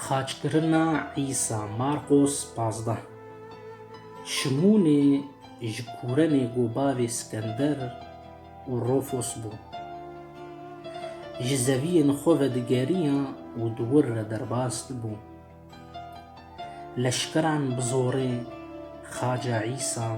Xaçkirina Îsa, Marqos pazdeh Şimûnê ji Kûrenê got bavê Skender û Rofos bû. Ji zeviyên xwe ve digeriya û di wir re derbas dibû. Leşkeran bi zorê Xaca Îsa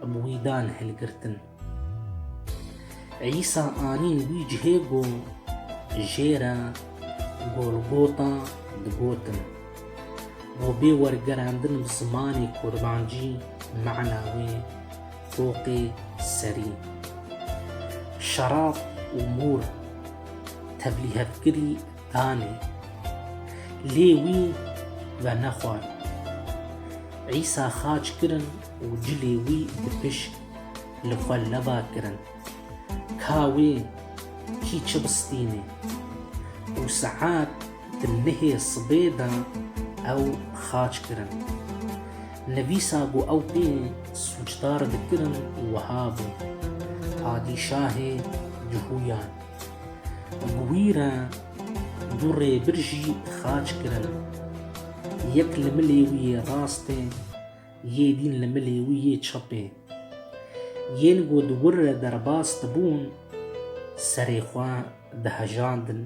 bi wî dan hilgirtin. Îsa anîn wî cihê ku jê re Golgota digotin. Bo bê wergerandin bi zimanê kurmancî mana wê Foqê Serî. Şerab û mûr tevlîhevkirî danê. Lê wî venexwar. Îsa xaç kirin û cilê wî bi pişk li xwe leba kirin. Ka wê kî çi bistînê. Û saet di nihê sibê de ew xaç kirin. Nivîsa ku ew pê sûcdar dikirin wiha bû, Padîşahê Cuhûyan. Bi wî re du rêbir jî xaç kirin. Yek li milê wî yê rastê, yê dîn li milê wî yê çepê. Yên ku di wir re derbas dibûn, serê xwe dihejandin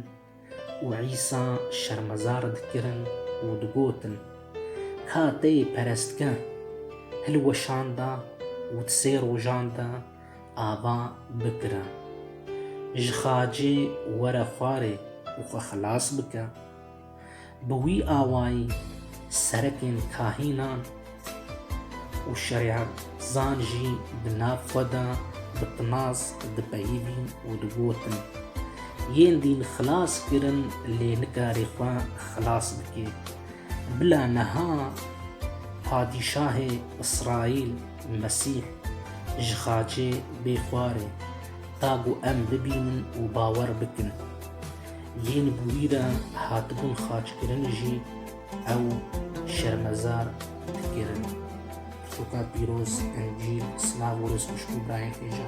û Îsa şermezar dikirin û digotin, Ka te yê perestger, hilweşanda û di sê rojan de ava bikire. Ji xacê were xwarê û xwe xilas bike. Bi wî awayî serekên kahînan û şerîetzan jî di nav xwe de bi tinas dipeyivîn û digotin, Yên dîn xilas kirin lê nikarî xwe xilas bikê. Bila niha padîşahê Îsraîl Mesîh ji xacê bê xwarê da ku em bibînin û bawer bikin. Yên ku wî re hatibûn xaçkirin jî ew şermezar dikirin. Pirtûka pîroz, Encîl, silav û rêzxweşik û birayekê ja.